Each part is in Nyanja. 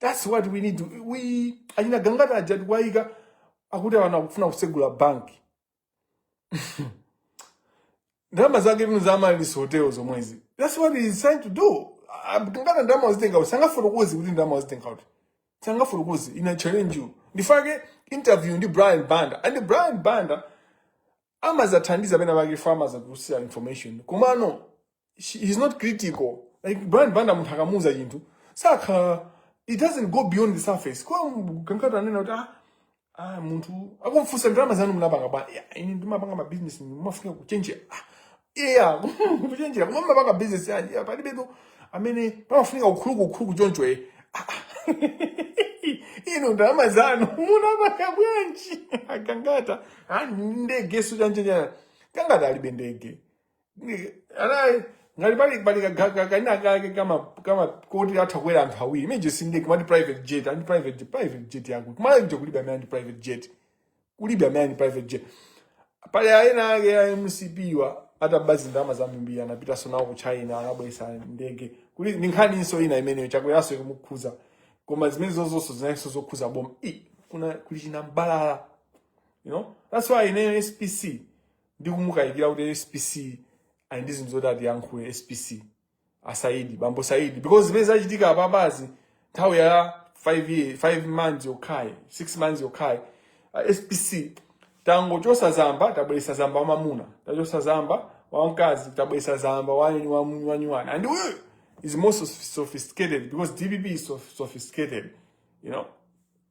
That's what we need. Iwo achina Gangata aja tikuwaika akuti anthu akufuna kusegula bank. Ndalama zake ndi inu za Amaris Hotel zomwezi. That's what he is trying to do. Ah, Gangata ndalama wazitenga kuti sangafotokoze kuti ndalama wazitenga kuti. Sangafotokoze I challenge you. Ndikufuna interview ndi Brian Banda. And Brian Banda amazathandiza pena pake fo amazatulutsa information komano he's not critical like brian banda munthu akamuuza chinthu sakhala it doesn't go beyond the surface kwa kankhani anena kuti ah, ah munthu akumfunsa ndalama zanu munapanga bwa "Ah, ine ndimapanga mabizinesi mumafuna kuchenjera iya kuchenjera koma mumapanga business yanji ya palibepo amene pamafunika ukhuluku ukhuluku choncho e ino ndalama zanu munapanga bwanji a Gangata ah, ndege chanichani a Gangata alibe ndege Ndi- ana ngati pali pali ka- ka- ka- kena kake kama kama koti atha kuwera anthu awiri imene ija si ndege kumati private jet ali ndi private jet private jet yako kumalawi kuja kulibe amene ali ndi private jet kulibe amene ali ndi private jet pali aena ake ya mcp awa ataba zindalama zambiri anapitanso nawo ku china anabweretsa ndege kuli, ndi nkhaninso ina imeneyo chakweranso ikumukhuza koma zimenezo zonse zinalinso zokhuza boma i kuna kuli chinambalala you know that's why ineyo spc ndikumukayikira kuti spc ali ndi zinthu zoti atiyankhule spc asaidi bambo saidi because zimene zachitika apapazi nthawi ya 5 year 5 months yokhayi 6 months yokhayi uh, spc tangochotsa zamba tabweretsa zamba wamamuna tachotsa zamba wamkazi tabweretsa zamba wanyini wamunyi wanyuwani and uyu is more so- sophisticated because dpp is so- sophisticated you know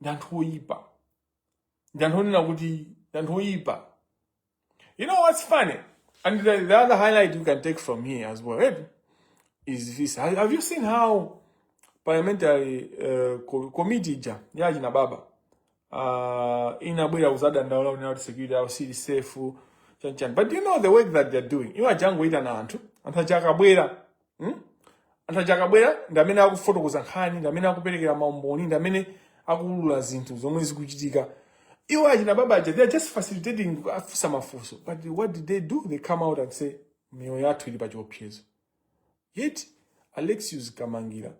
ndi anthu oyipa ndi anthu onena kuti ndi anthu oyipa you know what's funny and the, the other highlight you can take from here as well eh, is this have have you seen how parliamentary uh, co- committee ija ya achina baba uh, inabwera kuzadandaula kunena kuti security yawo sili safe chanichani but you know the work that they're doing iwo angoyitana anthu anthu aja akabwera hmm? anthu aja akabwera ndi amene akufotokoza nkhani ndi amene akuperekera maumboni ndi amene akuulula zinthu zomwe zikuchitika iwo achina baba aja they are just facilitating afunsa mafunso but what did they do they come out and say miyoyo yathu ili pa chiopsezo yet alexius kamangila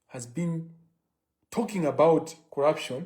has been talking about corruption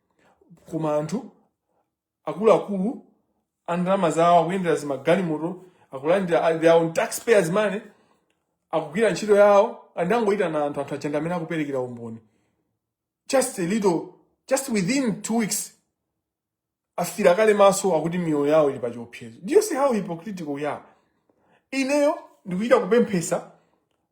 koma anthu akuluakulu a ndalama zawo akuyendera zimagalimoto akulandira a- their own taxpayers money akugwira ntchito yawo angoyitana anthu anthu aja ndi amene akuperekera umboni just a little just within two weeks afiira kale maso akuti miyoyo yawo ili pa chiopsezo do you see how hypocritical we are ineyo ndikuchita kupemphetsa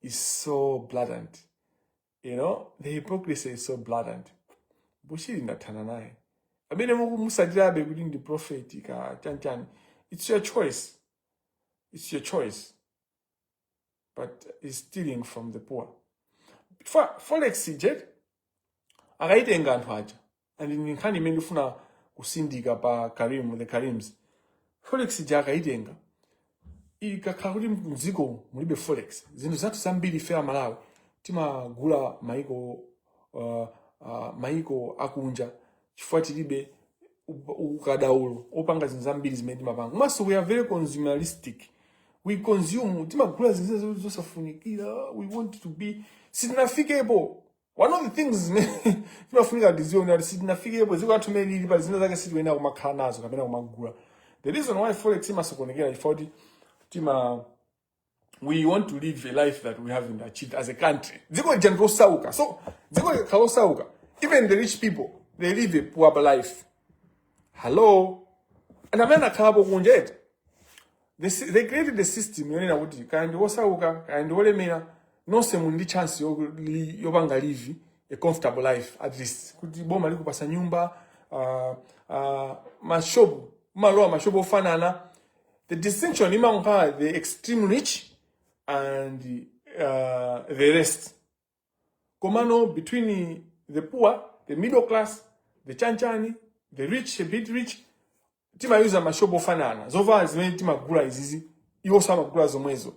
is so blatant you know the hypocrisy is so blatant bushiri ndathana naye amene mukumusatirabe kuti ndi profeti kaya chanichani it's your choice it's your choice but he's stealing from the poor Fa- forex ija akayitenga anthu aja and ndi nkhani imene ndifuna kutsindika pa karim the karims forex ija akayitenga ikakhala kuti mdziko mulibe forex zinthu zathu zambiri ife amalawi timagula maiko uh, uh, maiko akunja chifukwa tilibe u- ukadaulo opanga zinthu zambiri zimene timapanga komanso we are very consumeristic we consume timagula zinthu zimene zosafunikira we want to be sitinafikepo one of the things zimene timafunika tidziwe kuti sitinafikepo dziko lathu limene lili pa zina zake sitikuyenera kumakhala nazo kapena kumagula the reason why forex imasokonekera chifukwa kuti tima we want to live a life that we haven't achieved as a country dziko lija ndi losauka so dziko likakhala losauka even the rich people they live a poor life hello and amene akhalapo kunja eti They, s- they created the system yonena kuti kaya ndi wosauka kaya ndi wolemera nonse muli ndi chance yo- li- yopanga live a comfortable life at least kuti boma likupatsa nyumba uh, uh, mashopu mumalowa mashopu ofanana the distinction imakhala the extreme rich and uh, the rest komano between the poor the middle class the chanichani the rich a bit rich timayuza mashopu ofanana zovala zimene timagula izizi iwonso amagula zomwezo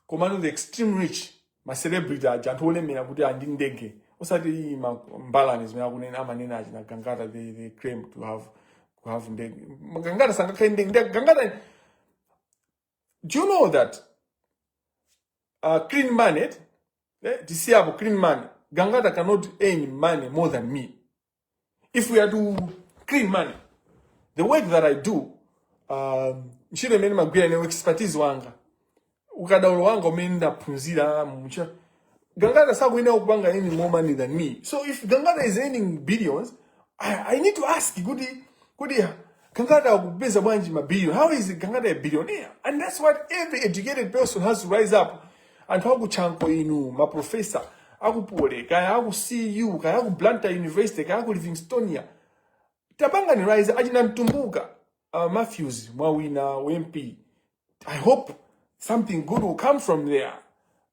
komano the extreme rich macelebrity aja anthu olemera kuti ali ndi ndege osati iyi ma- mbalani zimene akunena amanena achina gangata they, they claim to have, to have ndege gangata sangakhale ndi ndege Ndege- gangata do you know that uh, clean money eh, tisiyapo clean money gangata cannot earn money more than me if we are to clean money the work that i do um, ntchito imene magwira ine expertise wanga ukadaulo wanga umene ndaphunzira mucha Gangata sakuyenera kupanga earning more money than me. So if Gangata is earning billions, I, I need to ask kuti kuti Gangata akupeza bwanji ma billion? How is Gangata a billionaire? And that's what every educated person has to rise up. Anthu akutchanko inu, ma professor, akupole, kaya aku CU, kaya aku Blantyre University, kaya aku Livingstonia. Tapanga ni rise achina mtumbuka. Uh, Matthews, Mwawina, MP. I hope something good will come from there.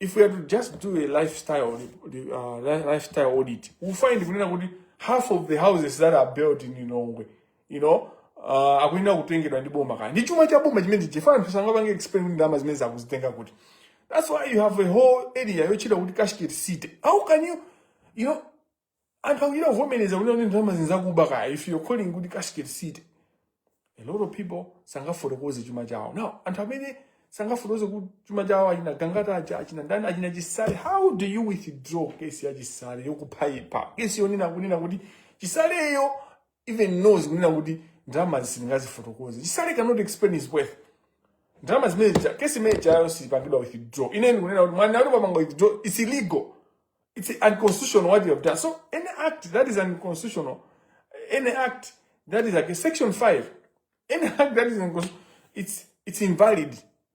if we are to just do a lifestyle uh, lifestyle audit we find kunena kuti half of the houses that are built in Lilongwe you know uh, akuyenera kutengedwa ndi boma kaya ndi chuma cha boma chimenecho chifukwa anthu sangapange explain kuti ndalama zimenezi akuzitenga kuti that's why you have a whole area yotchedwa kuti cashgate city how can you you know anthu akuchita kuvomereza kunena kuti ndalama izi nzakuba kaya if you're calling kuti cashgate city a lot of people sangafotokoze chuma chawo now anthu amene sangafotokoze ku- chuma chawo achina gangata aja achina ndani achina chisale how do you withdraw kesi ya chisale yokuphaipa kesi yonena kunena kuti chisaleyo even knows kunena kuti ndalama sindingadzifotokozere chisale cannot explain his wealth ndalama zimene zija kesi imene ijayo sipangidwa withdraw ine ndikunena kuti mwanena kuti tapanga withdraw it's illegal it's unconstitutional what you have done so any act that is unconstitutional any act that is like a section 5 any act that is unconstitutional it's it's invalid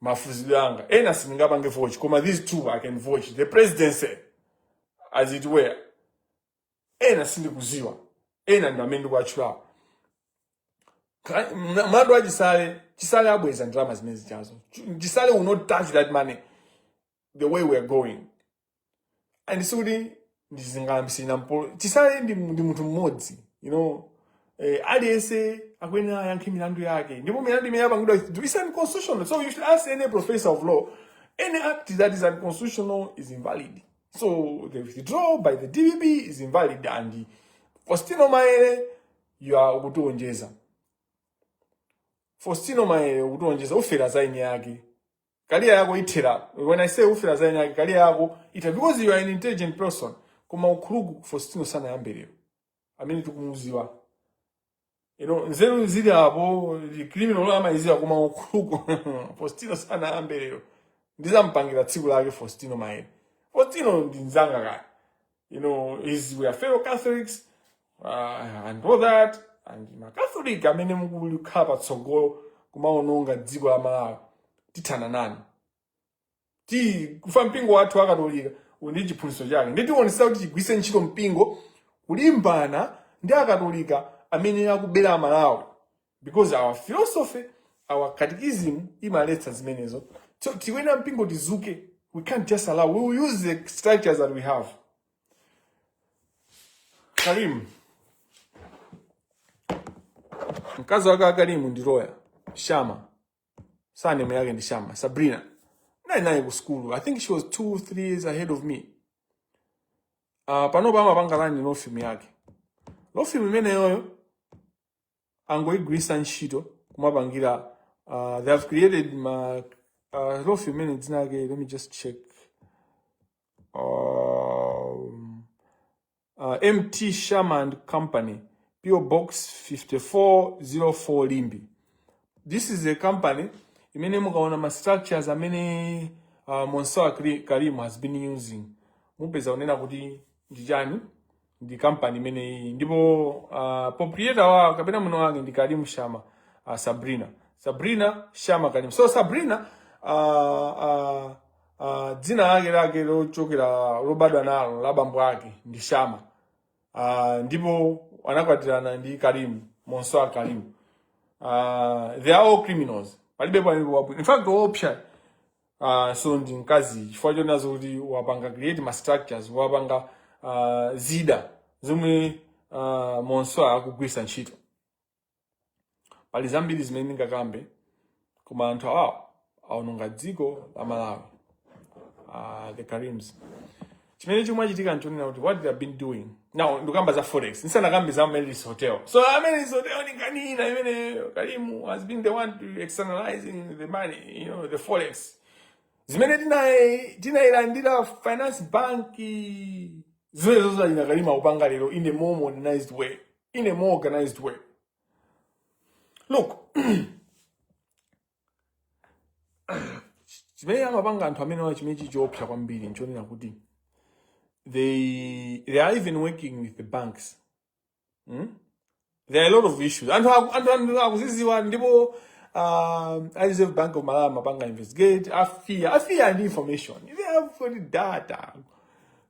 mafuzide anga ena sindingapange vouch koma these two i can vouch the presidency as it were ena sindikuziwa ena ndi amene ndikuwatchulawo Ka- mna- mlandu wa chisale chisale abweza ndalama zimene zijazo chisale will not touch that money the way we are going and sikuti ndizingolimbana ndi chisale ndi, ndi munthu mmodzi you know eh, aliyense akuyenera ayankhe milandu yake ndipo milandu imene yapangidwa is unconstitutional so you should ask any professor of law any act that is unconstitutional is invalid so the withdrawal by the dpp is invalid and faustino maere you are ukutionjezera faustino maere ukutionjezera ufera za eniake career yako ithera when i say ufera za eniake career yako ithera because you are an intelligent person koma ukuluku faustino sanayambe lero amene tikumuziwa you know nzeru zili apo ndi criminal amayiziwa koma ukuluku faustino sanayambe lero ndizampangira tsiku lake faustino maere faustino ndi mzanga kaya you know, is we are fellow Catholics uh, and all that and makatholika amene mukulikhala patsogolo kumaononga dziko la malawi tithana nanu chifukwa mpingo wathu wakatolika uli ndi chiphunzitso chake ndiye tikuonesa kuti tigwise ntchito mpingo kulimbana ndi akatolika amene akubera malawi because our philosophy our catechism imaletsa zimenezo so tikuyenera mpingo tizuke we can't just allow we will use the structures that we have karim mkazi wake wa karimu ndi loya shama surname yake ndi shama sabrina naye naye ku sukulu i think she was two three years ahead of me uh, panopa amapanga run law firm yake law firm imeneyoyo angoigwirisa ntchito kumapangira uh, they have created ma uh, law firm imene dzina lake let me just check um, uh, mt shama and company po box 5404 limbe this is a company imene mukaona ma structures amene uh, mansoor karim has been using mupeza kunena kuti ndi chani ndi kampani imeneyi ndipo uh, proprietor wake kapena mwini wake ndi Karim Shama uh, Sabrina Sabrina Shama Karim so Sabrina uh, uh, uh, dzina lake lake lochokera lobadwa nalo la bambo ake ndi Shama uh, ndipo anakwatirana ndi Karim Mansoor Karim uh, they are all criminals palibe palibe wabwino in fact woopsa uh, so ndi mkazi chifukwa chonazo kuti wapanga create ma structures wapanga uh, zida zomwe uh, mmenenso akugwiritsa ntchito pali zambiri zimene ndingakambe koma anthu awawa aononga dziko la malawi uh, the karims chimene chimachitika nchonena kuti what they have been doing now ndikamba za forex ndisanakambe za Amaryllis hotel so Amaryllis hotel ni nkhani ina imene Karim has been the one to externalizing the money you know the forex zimene tinai- tinailandira finance bank zimene zozalina Karim akupanga lero in a more modernized way in a more organized way look chimene amapanga anthu amenewa chimene chikuopsa kwambiri nchonena kuti they they are even working with the banks hmm? there are a lot of issues anthu aku- anthu anthu akuziziwa ndipo um, a reserve bank of malawi amapanga investigate a FIA a FIA ndi information they have got data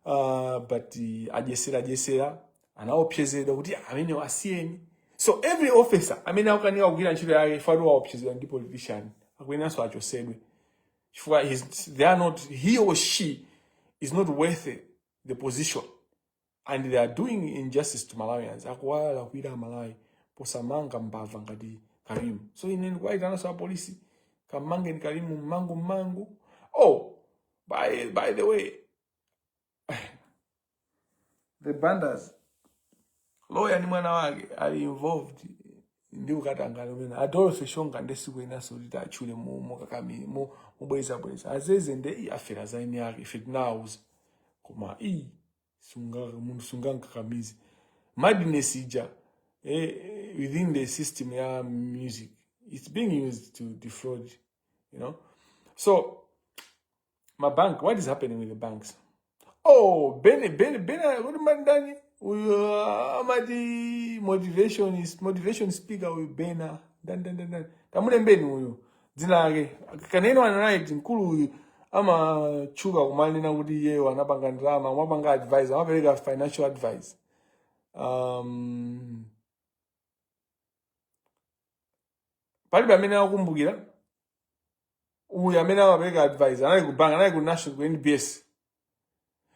uh, but uh, adyesera adyesera anaopsezedwa kuti amenewo asiyeni so every officer amene akukanika kugwira ntchito yake ifukwa choti waopsezedwa ndi politician akuyeneranso achosedwe chifukwa he's- they are not he or she is not worth the position and they are doing injustice to malawians akuwalakwira amalawi posamanga mbava ngati Karim so ine ndikuwayitananso apolisi kamangeni Karim mwachangu mwachangu oh by, by the way the Banda's lawyer ni mwana wake ali involved ndi ukatangale umene adolphe shonga nde sikuyeneranso kuti atchule mu mu kakami mu mobwezabweza aziziwa nde afera za eni ake ife tinawauza koma iii munthu sungamkakamize madness ija eh, eh, within the system ya music it's being used to defraud you know so ma bank what is happening with the banks oh bene bene bene kodi mandani uyu amati motivation motivation speaker uyu bena dan dan dan dan tamulembeni uyu dzina lake can anyone write mkulu uyu amatchuka kumanena kuti iyeyo anapanga ndalama amapanga advice amapereka financial advice um, palibe amene akukumbukira uyu amene amapereka advice anali ku bank anali ku national ku nbs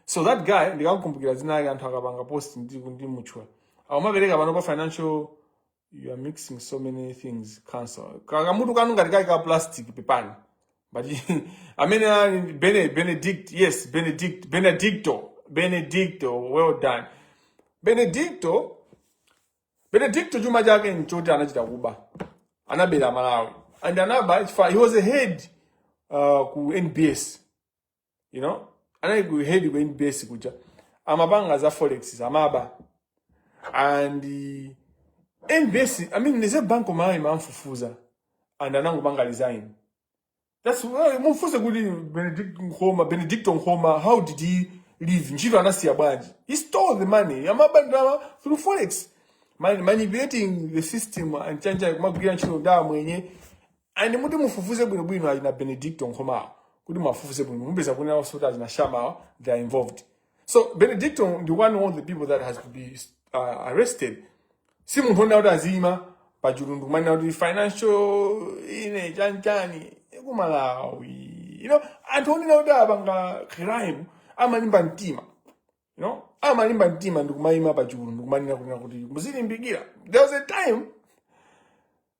so that guy ndikakukumbukira dzina lake anthu akapanga post ndimutchula akumapereka pano pa financial you are mixing so many things cancel kakamutu kanu ngati kali ka plastic pepani but amene ali Bene- benedict yes benedict benedicto benedicto well done benedicto Benedicto chuma chake nchoti anachita kuba, anabera Malawi and anaba chifukwa he was a head uh, ku NBS you know anali ku head ku NBS kuja amapanga za forex amaba and uh, NBS I mean Reserve Bank of Malawi mamfufuza and anangopanga resign That's why mumfunse kuti Benedict Nkhoma, Benedicto Nkhoma, how did he live? Ntchito anasiya bwanji? He stole the money. Amaba ndalama through forex. Man, manipulating the system and chani amagwira ntchito ndi amwenye. And kuti mufufuze bwino bwino ali na Benedicto Nkhoma. awo. Kuti mufufuze bwino mupeza kunena kuti ali na shama awo, they are involved. so benedicto ndi one of the people that has to be uh, arrested si munthu onena kuti aziyima pa chulu ndikumanena kuti financial ine chanchani kumalawi you know anthu onena kuti apanga crime amalimba mtima you know amalimba mtima ndikumayima pa chulu ndikumanena kunena kuti muzilimbikira there was a time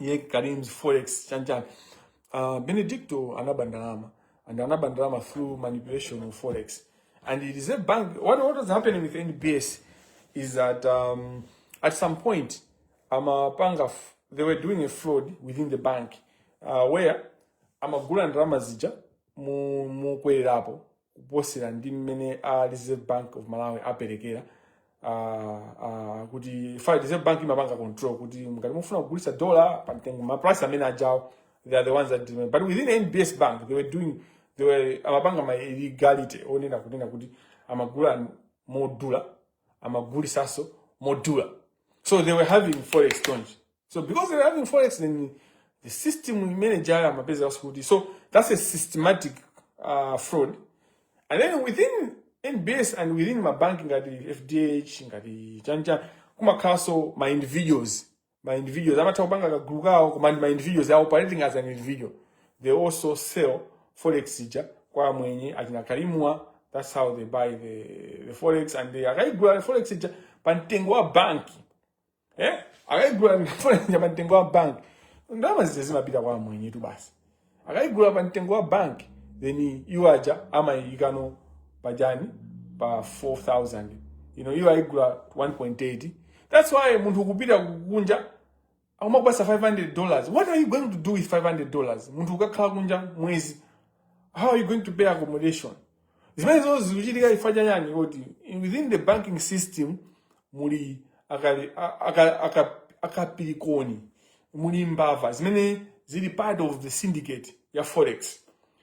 iye kalimzi forex chanchani uh, benedicto anaba ndalama and anaba ndalama through manipulation of forex and the reserve bank what, what was happening with nbs is that um, at some point amapanga f- they were doing a fraud within the bank uh, where amagula ndalama zija mu- mukwelerapo kuposera ndi mmene a reserve bank of malawi aperekera ah, ah, chifukwa reserve bank imapanga control kuti ngati mufuna kugulitsa dollar pa mtengo ma price amene ajawo they are the ones that determine. but within nbs bank they were doing they were amapanga ma illegality onena kunena kuti amagula modula amagulitsanso modula so they were having foreign exchange So because they are having forex in the system we manage our mapeza kuti. So that's a systematic uh, fraud. And then within NBS and within mabanki ngati FDH ngati chanichani kumakhalanso ma individuals ma individuals amatha kupanga kagulu kawo koma ndi ma individuals they are operating as an individual they also sell forex ija kwa amwenye achina kalimwa that's how they buy the, the forex and they akayigula the forex ija pa mtengo wa banki eh akayigula ndifuna pa mtengo wa bank ndalama zija zimapita kwa amwenye tu basi akayigula pa mtengo wa bank then iwo aja amayikano pajani pa 4000 you know iwo ayigula 1.8 that's why munthu kupita kunja amakupatsa 500 dollars what are you going to do with 500 dollars munthu ukakhala kunja mwezi how are you going to pay accommodation zimene zonse zikuchitika chifukwa cha chiyani kuti within the banking system muli akali- a- aka- aka- akapirikoni muli mbava zimene zili part of the syndicate ya forex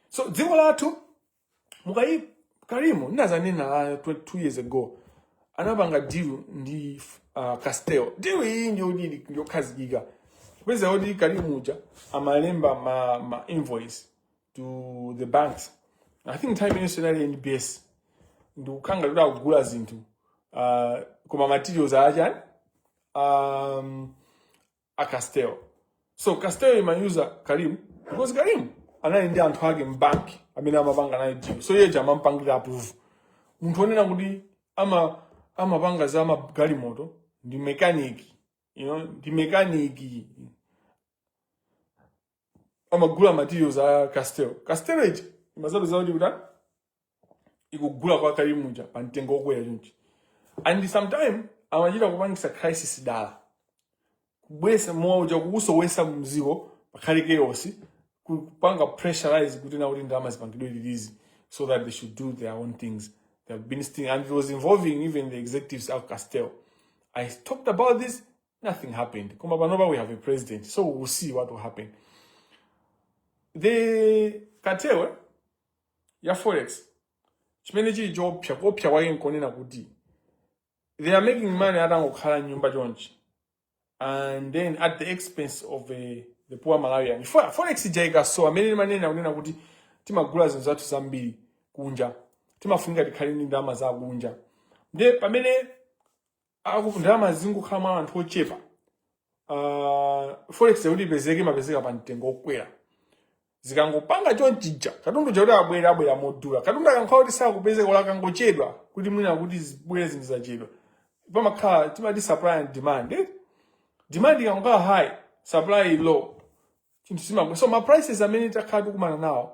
so dziko lathu nkhani ya karimu ndinazanena ah, tw- two years ago anapanga deal ndi uh, castel deal iyi ndiyodili yokhazikika kupezeka kuti karimu uja amalemba ma, ma invoice to the banks i think nthawi imenenso inali nbs ndikukhala kuti akugula zinthu uh, koma materials achani um, a castel so castel imauza karim because karim anali ndi anthu ake mbanki amene amapanga naye deal so iyeja amampangira approve munthu onena kuti ama amapanga za magalimoto ndi mekaniki you know, ndi mekaniki amagula materials a castel castel ija imazapeza kuti kuti ikugula kwa karimu uja pa mtengo wokwera chonchi and sometime amachita kupangisa crisis dala kubwesa mowa uja kuusowesa mdziko pakhale chaos kupanga pressurize kuti na kuti ndalama zipangidwe release so that they should do their own things they have been sting and it was involving even the executives of castel i talked about this nothing happened koma panopa we have a president so we will see what will happen the cartel ya forex chimene chili choopsa kuopsa kwake nkonena kuti they are making money atangokhala mnyumba chonchi and then at the expense of the, the poor malawian forex ija ikasowa amene timanena kunena kuti timagula zinthu zathu zambiri kunja timafunika tikhale ndi ndalama za kunja nde pamene akuti ndalama zingokhala mwa anthu ochepa uh, forex yakuti ipezeke imapezeka pa mtengo okwera zikangopanga chonchija katundu uja kuti abwere abwera modula katundu akakhala kuti sakupezeka olo akangochedwa kuti mwina kuti zibwere zinthu zachedwa pamakhala timati supply and demand eh? demand ikangokhala high supply low zinthu zimaku so ma prices amene takhala tikumana nawo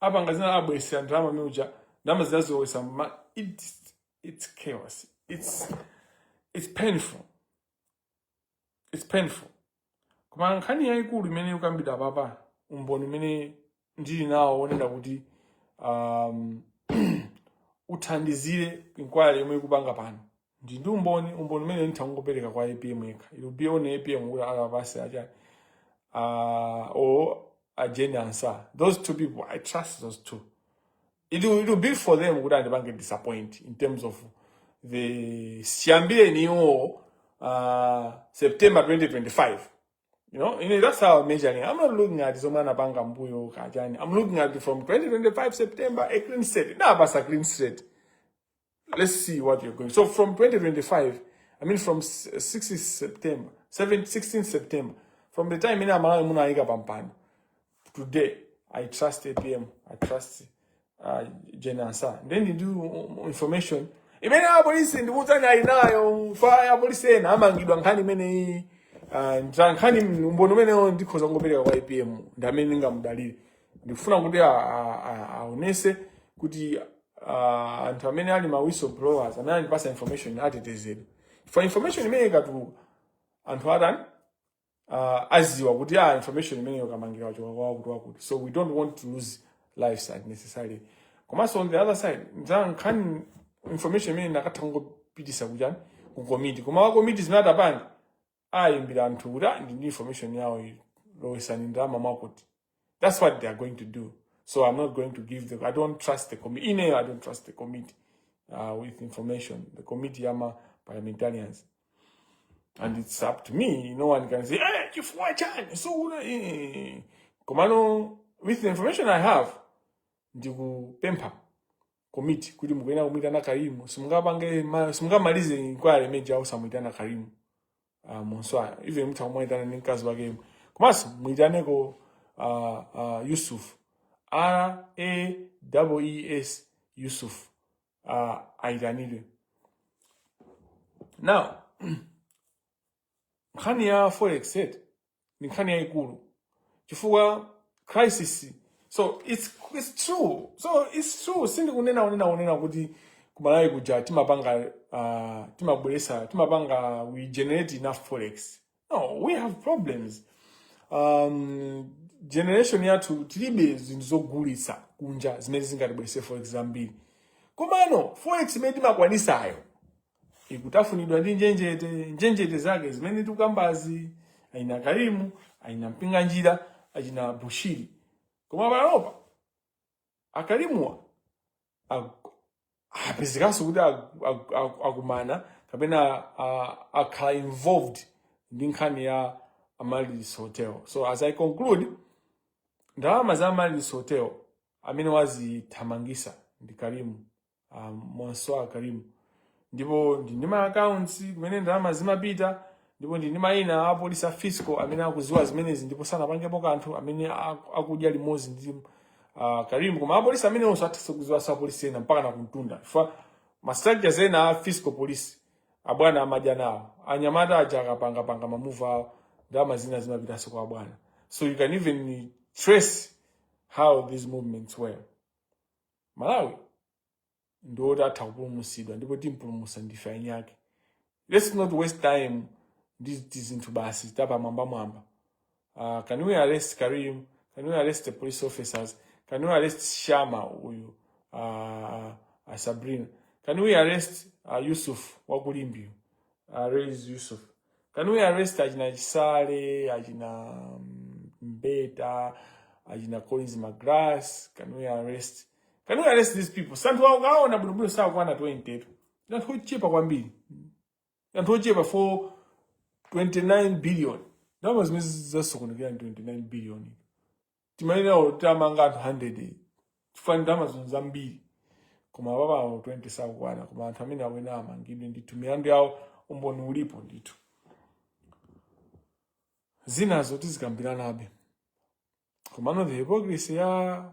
apanga zina abwesera ndalama miuja ndalama zinazilowesa ma it's, it's chaos it's, it's painful it's painful koma nkhani yayikulu imene ikukambidwa apapa umboni umene ndili nawo wonena kuti um, uthandizile inquiry yomwe ikupanga pano ndi ndi umboni umboni umene nditha kungopereka kwa apm yekha it will be on apm kuti akapatse acha uh, or ajeni ansah those two people i trust those two it will, it will be for them kuti andipange disappoint in terms of chiyambireni iwo uh, september 2025 you know and that's how I'm measuring i'm not looking at zomwe anapanga mmbuyo kachani i'm looking at from 2025 september a clean state ndawapatsa clean state let's see what you're going. So from 2025, I mean from 16 September, 7, 16 September, from the time imene aMalawi munawaika pampano, today I trust APM, I trust uh, Jane Ansah. Then you do information. Imene a police ndi kutani alinayo kaya a police ena amangidwa nkhani imene iyi uh, ndra nkhani mbono umenewo ndikhoza kungopereka kwa APM ndi amene ndingamudalire ndikufuna kuti aonese kuti uh, anthu amene ali ma whistleblowers amene andipatsa information atetezedwe coz information imene ikatuluka anthu atani uh, aziwa kuti ah, information imene yokamangira wachoka kwa wakuti wakuti so we don't want to lose lives unnecessarily komanso on the other side za nkhani information imene nditha kungopitisa kuchani ku committee koma wa committee zimene atapange ayimbira anthu kuti "Ah, ndi ndi information yawo iyi lowesani ndalama mwakuti that's what they are going to do so i'm not going to give them i don't trust the committee ineyo i don't trust the committee uh, with information the committee yama parliamentarians and it's up to me no one can say eh chifukwa chani so una eh komano with the information i have ndikupempha komiti kuti mukuyenera kumuyitana Karimu simungapange ma- simungamalize inquiry imene osamuyitana Karimu uh, Batatawala even mutha kumuyitana ndi mkazi wake yemwe komanso muyitaneko uh, uh, yusuf r a w e s yusuf uh, ayitanidwe now nkhani ya forex set ndi nkhani yayikulu chifukwa crisis so it's, it's true so it's true sindikunena kunena kunena kuti kumalawi kuja timapanga uh, timabweresa timapanga we generate enough forex no we have problems um, generation yathu tilibe zinthu zogulitsa kunja zimene zingatibwerese forex zambiri komano forex imene timakwanisayo ikutafunidwa ndi njenjete njenjete zake zimene tikukambazi achina Karimu achina Mpinganjira achina Bushiri koma panopa akarimuwa apezekanso kuti akumana kapena akhala involved ndi nkhani ya Amaryllis hotel so as i conclude ndalama za Amaryllis hotel amene wazithamangisa ndi karimu um, mwanswaa karim ndipo ndili ndi ma accounts kumene ndalama zimapita ndipo ndili ndi mayina a polisi a fiscal amene akuziwa zimenezi ndipo sanapangepo kanthu amene aku- akudya limodzi ndi uh, karim koma apolisi ameneonso atha kuziwa za apolisi ena mpaka nakumtunda chifukwa ma structures ena a fiscal police abwana amadya nawo anyamata aja akapangapanga mamuva awo ndalama zina zimapitanso kwa abwana so you can even trace how these movements were Malawi ndi oti atha kupulumutsidwa ndipo timpulumutsa ndife aini ake. Let's not waste time ndi tizinthu basi tapamwambamwamba. Uh, can we arrest Karim? Can we arrest the police officers? Can we arrest Shama uyu uh, uh, Sabrina? Can we arrest uh, Yusuf wakulimbiyo uh, Reis Yusuf? Can we arrest achina Chisale, achina mm, Mbeta, achina Collins Magalasi? Can we arrest? Can we arrest these people? Si anthu mukaona bwinobwino sakukwana 20 tu. Ndi anthu ochepa kwambiri. Ndi anthu ochepa for 29 billion. Ndalama zimene zasokonekera ndi 29 billion. timayenera kuti tamanga anthu 100 chifukwa amatama zinthu zambiri koma apapa awo 20 sakukwana koma anthu amene akuyenera amangidwe ndithu milandu yawo umboni ulipo ndithu zinazo tizikambiranabe komano the hypocrisy ya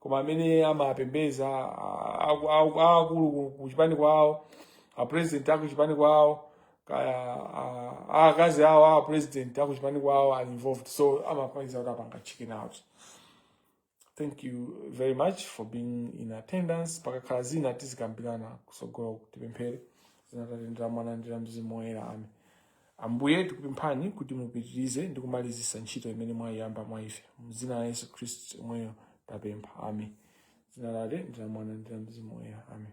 koma amene amapembeza aakulu ku- ku chipani kwawo apresident aku chipani kwawo kaya a- a- akazi awo a president aku chipani kwawo ali involved so amakayika kuti apanga chicken out thank you very much for being in attendance pakakhala zina tizikambirana kusogolo tipemphere dzina la atate ndi la mwana ndi la mzimu woyera ame Ambuye, tikupemphani kuti mupitirize ndi kumalizisa ntchito imene mwayiyamba mwa ife. Mzina la Yesu Khristu yemweyo tapempha. Amen. Dzina la Atate, ndi la Mwana, ndi la Mzimu Woyera. Amen.